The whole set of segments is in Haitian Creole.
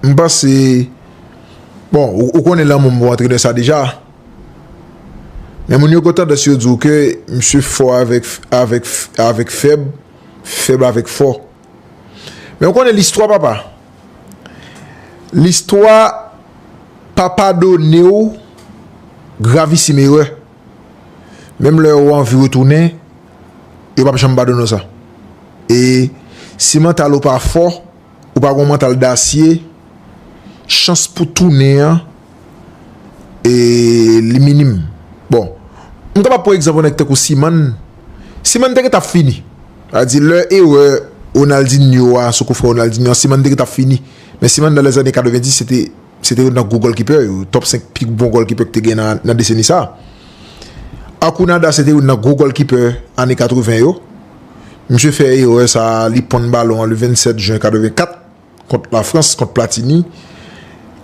M panse bon ou konnen lanmou m pou antrenè sa deja men moun yo gen tandans yo di w ke misye fò avèk fèb, fèb avèk fò men ou konnen listwa papa listwa pa padone w gravisim erè. Menm lè ou anvi retounen, yo pap janm ba donnen w sa. E si mantal ou pa fò, ou pa gon mantal dasye, chans pou tounen an, e li minim. Bon, m kapab pran egzanp yon nèg tankou Siman, Siman te gentan ap fini. A di lè erè Ronaldinho a sou koufrè Ronaldinho a, Siman te gentan ap fini. Men Siman nan lèzane 90 se te. Se te youn nan gwo gòlkipè yo, top 5 pi bon gòlkipè ki te gen nan deseni sa. Akounada se te youn nan gwo gòlkipè ane 80 yo. Misye fè erè sa, li ponn balon an le 27 jen 84 kont la Frans, kont Platini.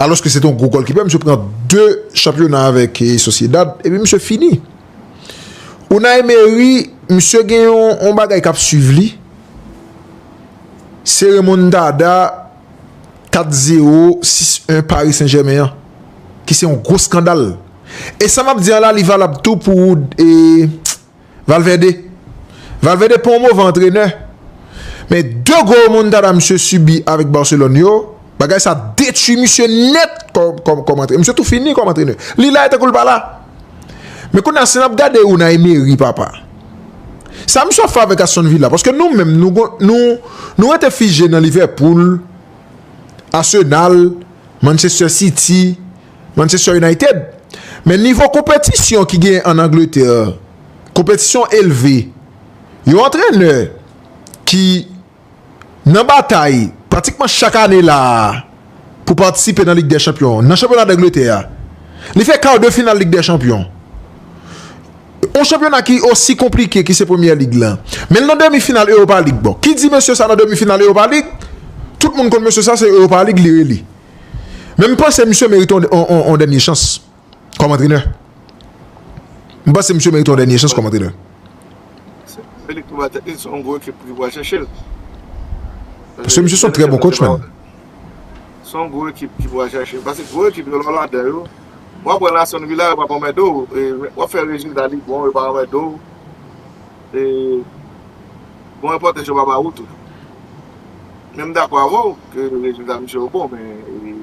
Alòske se te yon gwo gòlkipè, misye pran 2 chanpyona avèk Sociedad, epi misye fini. Unai Emery, misye gen yon bagay k ap swiv li, se remontada. 4 zero 6 1 Paris Saint Germain an ki se yon gwo skandal e sa map di an la li valab tou pou e Valverde Valverde pa yon move antrenè men 2 gwo remontada misye sibi avèk Barcelone yo bagay sa detwi misye nèt kòm antrenè misye tou fini kòm antrenè li la e tankou li pa la. Men kounye a si nap gade Unai Emery papa Sa misye ap fè avèk Aston Villa paske nou menm nou gon nou nou rete fije nan Liverpool Arsenal Manchester City Manchester United Men nivo konpetisyon ki genyen an Angleterre Konpetisyon elve Yon antrenè ki Nan batay pratikman chak ane la a pou patisipe nan Lig dè Chanpyon nan chanpyona Dangletè a, li fè kar de final Lig dè Chanpyon, yon chanpyona ki osi konplike ki se Premyè Lig lan, men l nan demi final Europa League. Bon, ki di mesye sa nan demi final Europa League, tout moun konn mesye sa, se Europa League li rele. Men m panse misye merite yon dènye chans. Kòm antrenè. M panse misye merite yon dènye chans kòm antrenè. Se li ki pou bat tèt li. Se yon gwo ekip ki pou al chèche l. Paske misye se yon trè bon kotch menm. Se yon gwo ekip ki pou al chèche l. Paske gwo ekip yo lè w ladan yo, w ap wè nan Aston Villa yo pa p anmède w. W ap fè rezilta li bon, yo pa anmède w. E bon repòtaj yo pa ba ou tou. Men m dakò avè w ke rezilta misye yo bon men.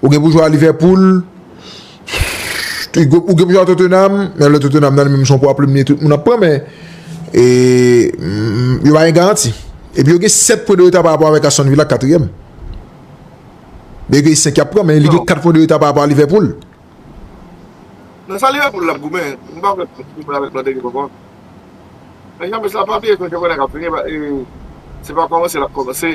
Ou gen pou jwe a Liverpool, ou gen pou jwe a Tottenham, men lè Tottenham nan li menm son pwa plim li tout moun ap pran men yo pa gen garanti. Epi yo gen 7 pwen de reta pa rapò avèk Aston Villa ki 4 ème. Byen ke li 5 yap pran men li gen 4 pwen de reta pa rapò a Liverpool. Nan sa Liverpool ap goumen, m pa kwè pou goumen avèk lòt ekip ankò. Men James la pa bliye konn chapyona kap vini e se pa kòmanse lap kòmanse.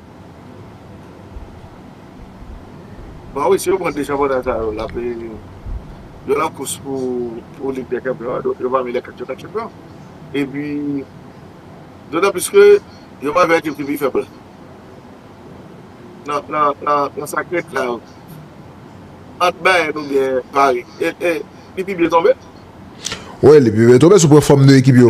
Bon wi si yo pran 2 chanpyona sa yo lap yo nan kous pou lig dè chanpyon an donk yo pami lè 4 yo kap chanpyon epi dotan plis ke yo pral jwe ak ekip ki pi fèb la nan sak ret la ant Bayern oubyen Paris li pi byen tonbe. Wi li pi byen tonbe si w pran fòm 2 ekip yo.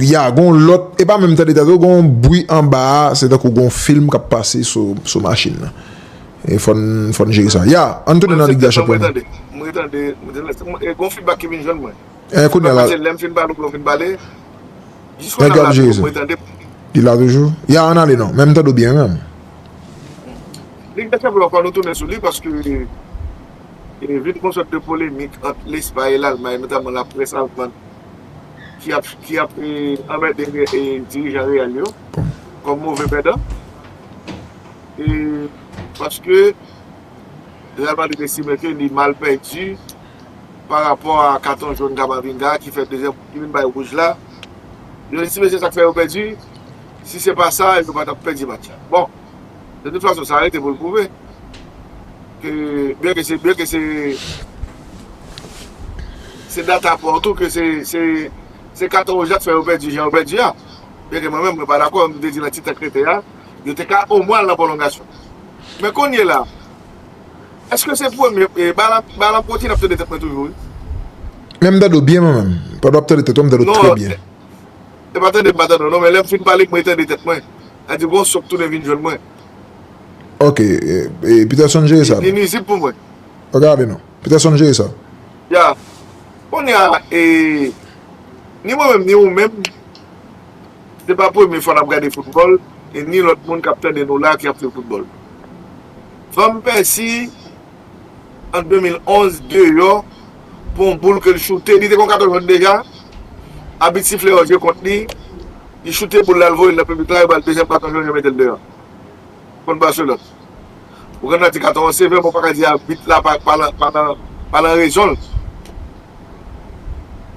Ya gon lòt e pa menm tande tande gon bwi anba a se tankou gon film kap pase sou machin nan e fòn jere sa ya ann tounen nan lig dè chanpyon nan e kounye a la nèg yo ap jere sa li la toujou ya ann ale non men m tande w byen menm lig dè chanpyon an fò nou tounen sou li paske vin gon sòt de polemik ant lespay e lalmay notamman laprès alman. ki ap anmède dirijan Real yo kòm move pèdan e paske Real Madrid estime ke li mal pèdi pa rapò a katon jòn Camavinga ki fè dezyèm ki vin bay wouj la yo estime se sak fè yo pèdi si se pa sa yo pa tap pèdi match la bon. De tout fason sa rete pou l pwouve ke byen ke se byen ke se se data pa w tou ke se se katon wouj la k fè yo pèdi jan yo pèdi a byen ke mwen menm mwen pa dakò m te di nan ti tan k rete a yo te ka o mwen al nan pwolongasyon men kounye la èske se premye e balan pwoti n ap tande tèt mwen toujou wi men m tande w byen mwen menm pandan w ap tande tèt w m tande w trè byen non e pa tande m pa tande w non men lè m fin pale mwen tande tèt mwen. Li di bon sòk tounen vin jwenn mwen. Ok e Peterson jere sa. Li nizib pou mwen. Pa gen avè non. Peterson jere sa. Ya. Kounye a e ni mwen menm ni ou menm se pa premye fwa nap gade foutbòl e ni lòt moun kap tande nou la ki ap swiv foutbòl. Van Pèsi an 2011 deyò pou yon boul ke l choute. Li te kon katon jòn deja. Abit sifle yon je kont li. Li choute boul la, l voye l nan piblik la, yo ba l dezyèm katon jòn, yo mete l deyò. Kont Barcelone. Ou gen dwa di katon an sevè, men w pa ka di abit la pa nan rezon l.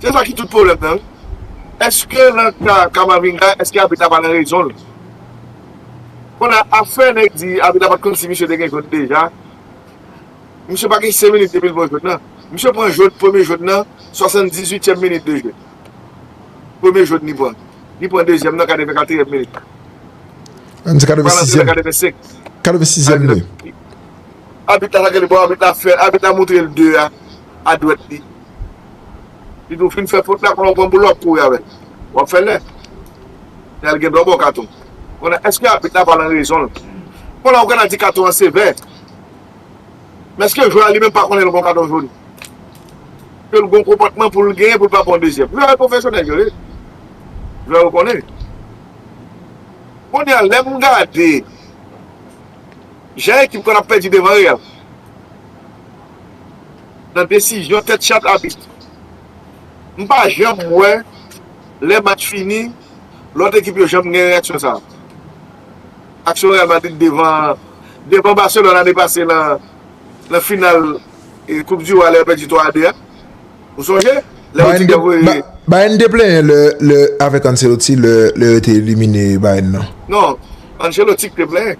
Se sa ki tout pwoblèm nan wi. Eske nan ka Camavinga, eske abit la pa nan rezon l? Kounye a, afè nèg di abit la pa t konn si misye te gen jòn deja, Misye pa gen 5 minit depi l pran jwèt lan. Misye pran jwèt premye jwèt nan 78 tièm minit de jeu. Premye jwèt li pran. Li pran dezyèm nan 84 tièm minit. An di 86 tièm. 86 tièm minit. Abit la ta gade bon abit la fè. Abit la montre l 2 a. a dwèt li li tou fin fè fot la konnen w pran boulòk kouri avè l w ap fè lè lè l gen dwa ba w katon konnen èske abit la pa nan rezon l bon la ou gentan di katon an sevè men èske jwè a li menm pa konnen l gon katon jòn ke l gon konpòtman pou l genyen pou l pa pran dezyèm jwè yo pwofesyonèl yo ye jwè yo konnen konnen a lè m gade jan ekip konn ap pèdi devan real. nan desizyon tèt chat abit. M pa janm wè lè match fini lòt ekip yo janm gen reyaksyon sa. Aksyon Real Madrid devan Barcelone ane pase nan final koup di wa lè yo pèdi 3 a 2 a. Ou sonje? Lè yo di te voye. Bayern te plenyen lè avèk Ancelotti lè yo te elimine Bayern nan. Non, Ancelotti ki te plenyen.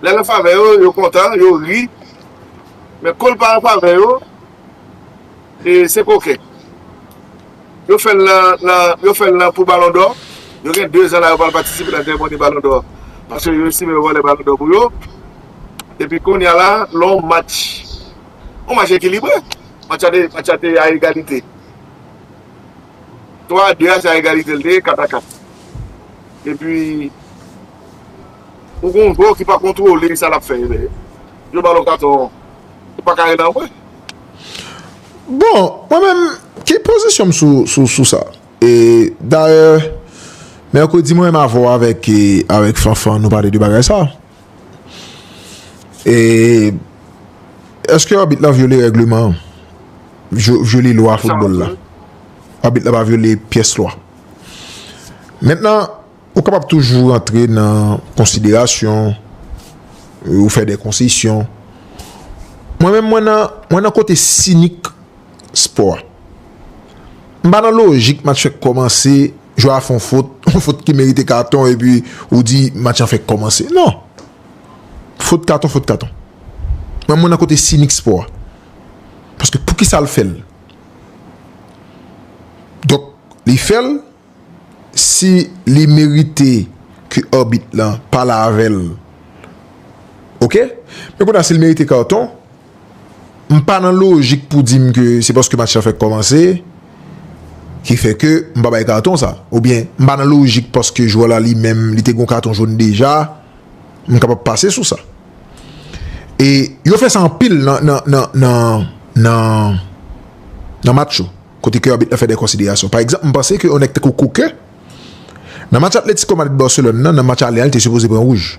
Lè l an favè yo, yo kontan, yo ri, men kon l pa an favè yo, se koken. Yo fè l nan pou balon dò, yo gen 2 zan la yo pral patisipe nan seremoni balon dò, paske yo estime yo vòlè balon dò pou yo, epi konnya la, lè yon match, yon match ekilibre, match la te a egalite, 3 a 2 a se a egalite l te ye, 4 a 4, epi. Ou gen yon bro ki pa kontrole sa lap fè lè yo ba lou katon an ou pa ka rele anpwen. Bon mwen menm ki pozisyon m sou sa e dayè mèkredi mwen menm avè w avèk Fanfan nou pale de bagay sa e èske abit lan vyole règleman an vyole lwa foutbòl la abit la pa vyole pyès lwa mentnan Ou kapab toujou rantre nan konsiderasyon, ou fè de konsesyon. Mwen menm mwen nan, mwen nan kote sinik spò a. M pa nan lojik match fèk kòmanse, jwè a fè yon fot, yon fot ki merite katon epi ou di match lan fèk kòmanse. Non! Fot katon, fot katon. Mwen mwen nan kote sinik spò a. Paske poukisa l fè l? Donk, li fè l. si li merite ke arbit lan pale avèl ok men kounye a si li merite karton m pa nan lojik pou dim ke se paske match lan fèk kòmanse ki fè ke m pa bay karton sa ou byen m pa nan lojik paske jwè la li menm li te gon karton joun deja m kapab pase sou sa e yo fè sa anpil nan nan nan nan match yo. Kote ke abit lan fè de konsiderasyon. Pa egzanp, m panse ke yon nèg tankou Koke, nan match Atlético Madrid Barcelone nan, nan match ale an li te sipoze pran wouj.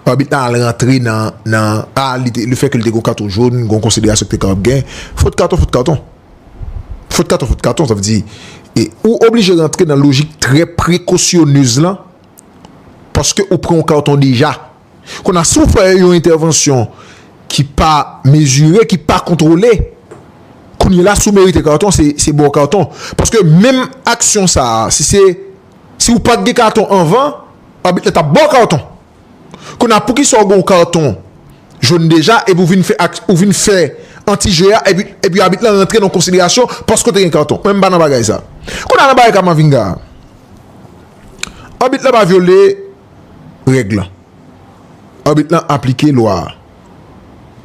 Abit lan al rantre nan, nan, a, li te, le fè ke li te gen yon katon jaune, gen yon konsiderasyon ki te kapab gen. Fot katon, fot katon. Fot katon, fot katon. Sa vle di, e, ou oblije rantre nan lojik trè prekosyoneuz lan, paske ou pran yon katon deja. Kon a si w fè yon entèvansyon ki pa mezire, ki pa kontwole, kounye la si w merite katon se ba w katon. Paske menm aksyon sa a, si se si w pa t gen katon anvan, abit la t ap ba w katon. Kon a poukisa w gen yon katon jòn deja epi w vin fè ou vin fè antije a epi abit la rantre nan konsiderasyon paske w te gen katon. Mwen m pa nan bagay sa. Kon a nan bagay Kamavinga a, abit la pa vyole. règ lan. Arbit lan aplike lwa a.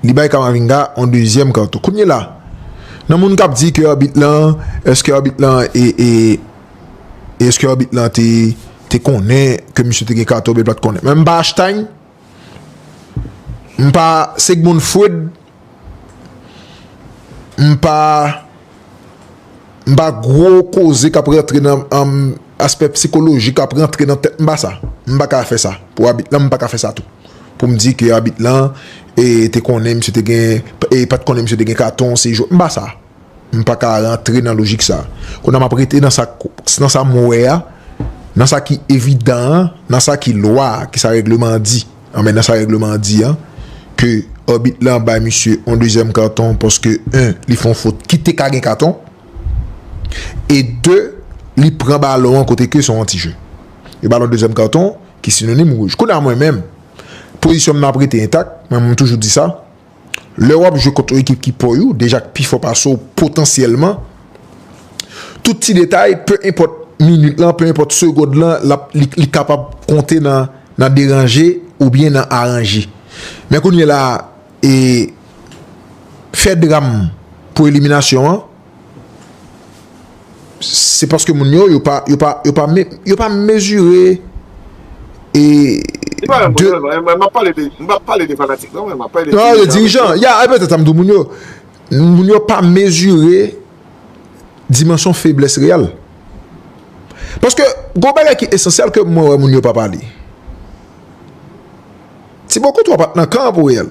Li bay Camavinga yon dezyèm karton. Kounyela, nan moun kap di ke arbit lan, eske arbit lan e, e, eske arbit lan te, te konnen ke misye te gen karton oubyen l pat konnen. Men m pa Einstein, m pa Sigmund Freud M pa M pa gwo koze k ap rantre nan aspè psikolojik k ap rantre nan tèt m pa sa M pa ka fè sa pou abit lan m pa ka fè sa tou pou m di ke abit lan te konnen misye te gen e pat konnen misye te gen katon se jwèt m pa sa M pa ka rantre nan lojik sa Kounye a m ap rete nan sa nan sa m wè a nan sa ki evidan an nan sa ki lwa a ki sa règleman an di. An men nan sa règleman an di an, ke Arbit lan bay misye yon dezyèm karton paske 1 li fè yon fot ki te ka gen katon e 2 li pran balon an kote ke se yon antije. Yo ba l yon dezyèm karton ki sinonim wouj. Kounye a mwen menm, pozisyon m nan ap rete entak, mwen menm m toujou di sa. Lè wap jwe kont yon ekip ki pò you, deja k pi fò pase w potansyèlman, tout ti detay, pe enpòt minit lan, pe enpòt segond lan, lap, li, li kapab konte nan, nan deranje oubyen nan aranje. Men kounyela a, e, fè dram pou eliminasyon an. Se paske moun yo, yo pa, yo pa, yo pa me, yo pa mezire e de. M ap pale de, m ap pale de fanatik non mwen, m ap pale de dirijan. Non, de dirijan, ya, e petèt sa m di w moun yo. Moun yo pa mezire dimansyon feblès Real. Paske gon bagay ki esansyèl ke mwen wè moun yo pa pale. Tibo Kotwa pa t nan kan an pou Real.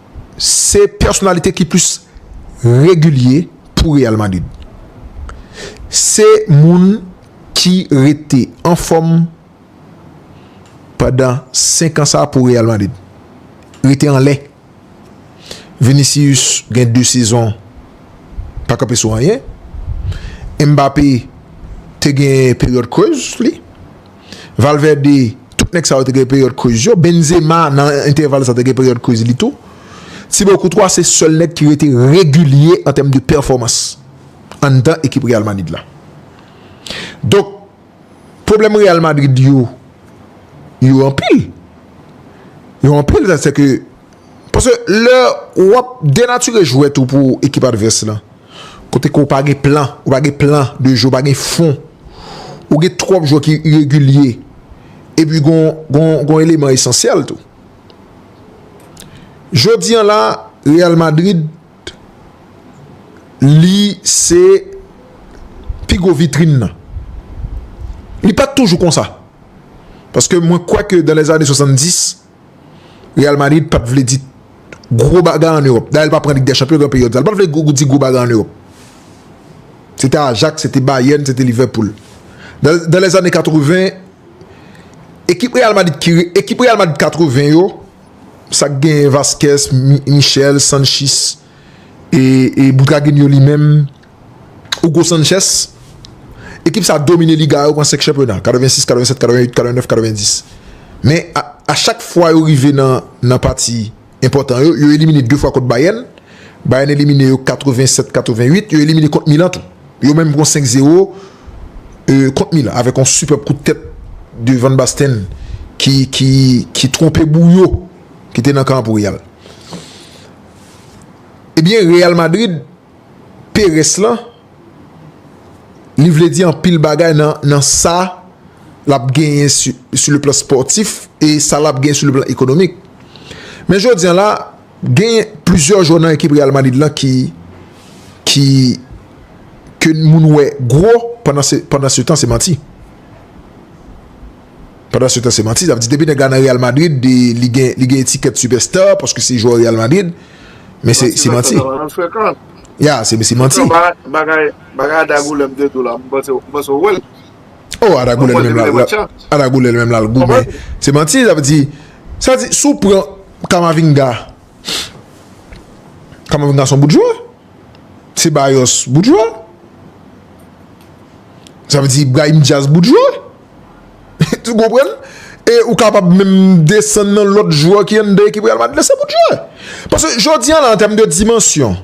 Se pèsonalite ki plis regilye pou Real Madrid. Se moun ki rete anfòm pandan 5 an sa pou Real Madrid. Rete anlè. Vinicius gen 2 sezon pa kanpe sou anyen. Mbappé te gen peryòd krèz li. Valverde, tout nèg sa yo te gen peryòd kriz yo. Benzema nan entèval sa te gen peryòd kriz li tou. Thibaut Courtois se sèl nèg ki rete regilye an tèm de pèfòmans anndan ekip Real Madrid la. Donk, pwoblèm Real Madrid yo, yo anpil. Yo anpil sa se ke, paske lè w ap denatire jwèt ou pou ekip advès lan. Kote ke w pa gen plan, ou pa gen plan de jwe, ou pa gen fon. Ou gen twòp jwè ki iregilye. E pi gon, gon, gon eleman esansyèl tou. Jodi an la, Real Madrid, li se pi gwo vitrin nan. Li pa t toujou konsa. Paske mwen kwè ke dan lèzane 70, Real Madrid pap vle di gwo bagay an Europe. Dayè li pa pran Ligue des Champions gran peryòd sa. Li pap vle di gwo bagay an Europe. Se te Ajax, se te Bayern, se te Liverpool. Dan les années 80, ekip Real Madrid ki re, ekip Real Madrid 80 yo, sa k genyen Vazquez, Michel, Sanchis, e Boutraguenio li menm, Hugo Sanchez, ekip sa domine liga a, yo pran 5 chanpyona, 86, 87, 88, 89, 90. Men, a chak fwa yo rive nan pati enpòtan yo, yo elimine 2 fwa kont Bayern, Bayern elimine yo 87, 88, yo elimine kont Milan tou. Yo menm pran 5 zero kont Milan, avèk yon sipèb kout tèt de Van Basten ki twonpe Bouyo ki te nan kan pou Real. Ebyen, Real Madrid Peres lan, li vle di anpil bagay nan sa l ap genyen sou le plan spòtif e sa l ap genyen sou le plan ekonomik. Men jodi an la, genyen plizyè jwè nan ekip Real Madrid lan ki ke moun wè gwo pandan se tan se manti. Pandan se tan se manti zap di depi nèg la nan Real Madrid li gen li gen etikèt super star paske se jwè Real Madrid men se se manti ya se se manti bagay bagay Ada Goulèb te di w la m panse m panse w wè l oh Ada Goulèb menm la Ada Goulèb menm la l goumen se manti zap di sa di si w pran Camavinga Camavinga son bout jwè Ceballos bout jwè sa vle di Brahim Diaz bout jwè. Ou konprann? E ou kapab menm desann nan lòt jwè ki anndan ekip Real Madrid la se pou jwè. Paske jodi an la an tèm de dimansyon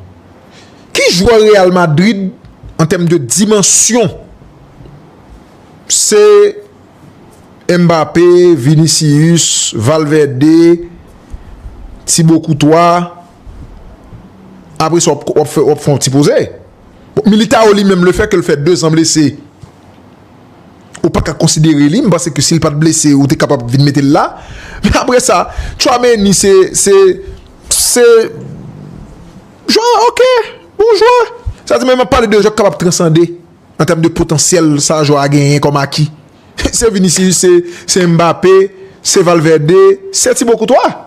ki jwè Real Madrid an tèm de dimansyon se Mbappé, Vinicius, Valverde, Thibaut Courtois apre sa wap fè yon ti poze. Militao li menm le fè ke l fè 2 zan blese. ou paka konsidere li, m panse ke si l pat blese ou te kapab vin mete l la, men aprè sa Tchouaméni se se se jwè ok bon jwè, sa vle di men map pale de jwè ki kapab transande an tèm de potansyèl sa jwè a genyen kòm aki, se Vinicius se Mbappé se Valverde se Thibaut Courtois.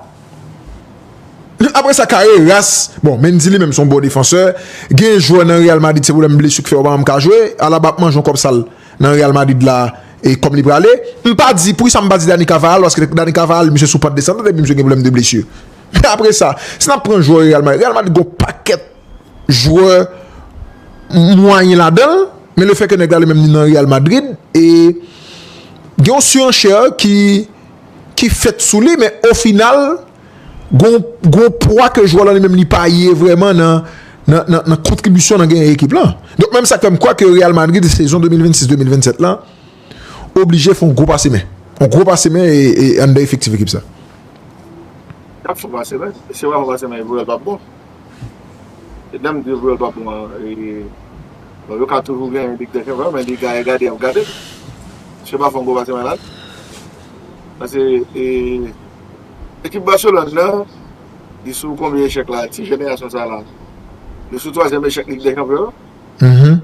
Aprè sa Carreras, bon Mendy li menm son bon defansè, gen jwè nan Real Madrid se pwoblèm blesu k fè yo pa janm ka jwe, Alaba ap manje yon kòb sal nan Real Madrid la e kòm li prale, m pa di poukisa m pa di Dani Carvajal paske Dani Carvajal misye sou pant desandan depi misye gen pwoblèm de blesu. Men aprè sa, si nap pran jwè Real Madrid, Real Madrid gen yon pakèt jwè mwayen ladanl, men le fè ke nèg la li menm li nan Real Madrid e gen yon suranchè ki. ki fèt sou li men o final gon gon pwa ke jwè lan li menm li pa ye vrèman nan nan kontribisyon nan genyen ekip lan donk menm sa k fè m kwè ke Real Madrid sezon 2026 2027 lan oblije fon gwo pase men on gwo pase men e anndan efektif ekip sa. Yap fon pase men si yo pa fon pase men pou yo l pap bon. E lèm di vwèl pa bon an e bon yo ka toujou gen li gen vwèl men li gaye gade yap gadel misye pa fon gwo pase malad pase e ekip Barcelone nan li sou konbyen echèk la ti jenerasyon sa la yo sou twazyèm echèk lig dè chanpyon yo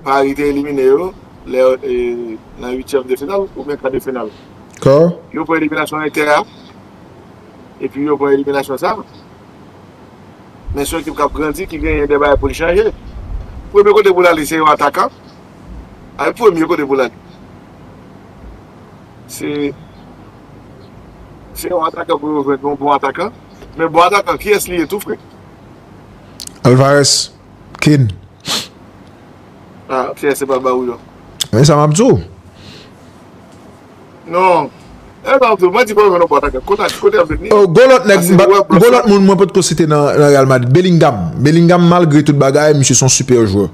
Paris te elimine yo lè e nan uityèm de final oubyen kade final yo pran eliminasyon Inter a epi yo pran eliminasyon sa. Men son ekip k ap grandi ki genyen de bagay pou l chanje. Premye kote pou l ale se yon atakan. Al premye kote pou l ale. Se se yon atakan pou yo jwenn yon bon atakan. Men bon atakan kiyès li ye tou frè? Alvarez, Kane. A, Pierre se pa ba ou yo. Men sa m ap di w. Non E sa wap di mwen di pa jwenn yon bòt akèt kontak kote yap jwenn li Oh gon lòt nèg mpa gon lòt moun mwen potko site nan Real Madrid Bellingham Bellingham malgre tout bagay misye son super jwè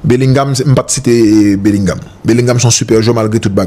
Bellingham mpat site Bellingham Bellingham son super jwè malgre tout bagay.